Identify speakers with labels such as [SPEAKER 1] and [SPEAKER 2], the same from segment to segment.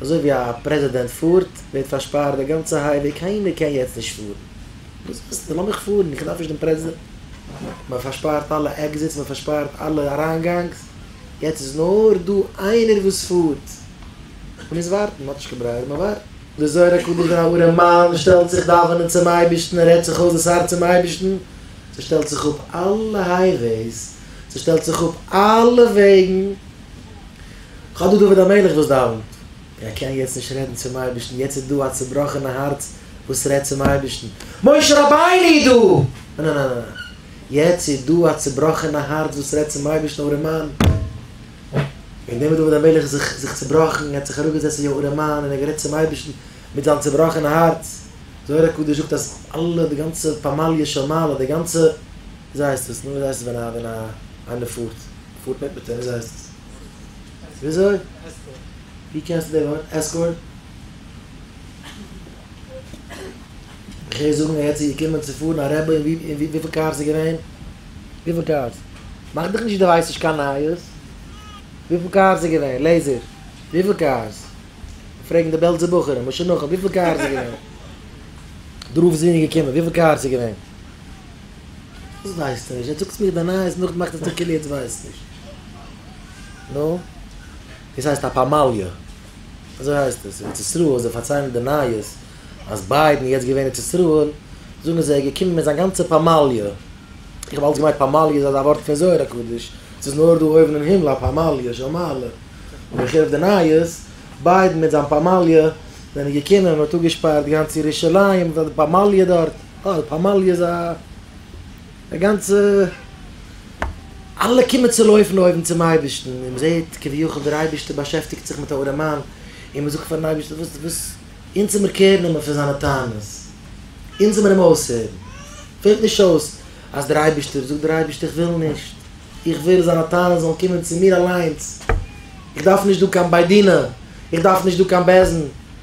[SPEAKER 1] אזוי ווי א פרעזידענט פארט, ווערט פארשפארט די גאנצע הייוועי, קיינער קען יעצט נישט פארן. וואס ווילסטו? לאמיך פארן, איך דארף נישט דעם פרעזידענט. מען פארשפארט אלע עקזיטס, מען פארשפארט אלע אריינגאנגס, יעצט איז נאר דא איינער וואס פארט. מען מוז ווארטן, מען האט נישט קיין ברירה, מען ווארט. דער זוהר הקדוש ווען א ארעם מאן שטעלט זיך דאווענען צום אייבערשטן און רעדט זיך אויס דאס הארץ צום אייבערשטן, ס'שטעלט זיך אפ אלע הייוועיס, ס'שטעלט זיך אפ אלע וועגן. כ'האב דא דוד המלך וואס דאווענט, און ער קען יעצט נישט רעדן צום אייבערשטן, יעצט איז דא א צובראכענע הארץ וואס רעדט צום אייבערשטן, משה רבינו איז דא! נע נע נע נע נע, יעצט איז דא א צובראכענע הארץ וואס רעדט צום אייבערשטן, ארעם מאן! און דעמאלט דוד המלך איז זיך צובראכן, ער האט זיך אראפגעזעצט ווי א ארעם מאן און ער האט גערעדט צום אייבערשטן מיט זיין צובראכענע הארץ, זוהר הקדוש זאגט אז אלע די גאנצע פמליא של מעלה, די גאנצע, וויאזוי הייסט עס, נו וויאזוי הייסט עס ווען א ווען א איינער פארט, מ'פארט מיט מיט אים, וויאזוי הייסט עס? וויאזוי? ווי קענסטו די ווארט עסקארט? איך הער זאגן ער האט צו געקומען צו פארן א רבי און וויפיל קארס איז געווען? וויפיל קארס? מאך דיך נישט די ווייסט נישט קיין נייעס. וויפיל קארס איז געווען? לעיזער, וויפיל קארס? פרעגן די בעלזע בחורים, משה נחום, וויפיל קארס איז געווען? דרור וואס איז געקומען, וויפיל קארס איז געווען? וואס ווייסטו נישט? יעצט זאגסטו מיר די נייעס נאכדעם מאכסטו זיך כאילו יעצט ווייסט נישט. נו? דאס הייסט א פאמאליע. אזוי הייסט עס. ארץ ישראל זיי פארציילן די נייעס אז ביידן יעצט געווען ארץ ישראל זאגן זיי ער איז געקומען מיט זיין גאנצע פאמאליע. איך האב אלץ געמיינט פאמאליע איז אזא ווארט פון זוהר הקדוש. ס'איז נאר דא אויבן אין הימל א פאמאליע של מעלה. אבער איך הער אויף די נייעס ביידן מיט זיין פאמאליע זענען געקומען מ'האט אפגעשפארט גאנץ ירושלים מיט א פאמאליע דארט. אה, די פמליא איז א גאנצע, אלע קומען צו לויפן אויבן צום אייבערשטן, און מ'זעט כביכול דער אייבערשטער באשעפטיגט זיך מיט א ארעמאן, און מ'זאגט פארן אייבערשטער וואס וואס, אונז זעמיר קער נעמען פון זיינע טענות, אונז זעמיר אים אויסהערן, פעלט נישט אויס אז דער אייבערשטער, זאגט דער אייבערשטער איך וויל נישט, איך וויל זיינע טענות זאלן קומען צו מיר אליינס, איך דארף נישט דא קיין בית דינא, איך דארף נישט דא קיין בעסען,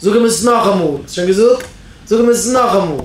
[SPEAKER 1] זאג אים עס נאכאמאל. האסט שוין געזאגט? זאג אים עס נאכאמאל.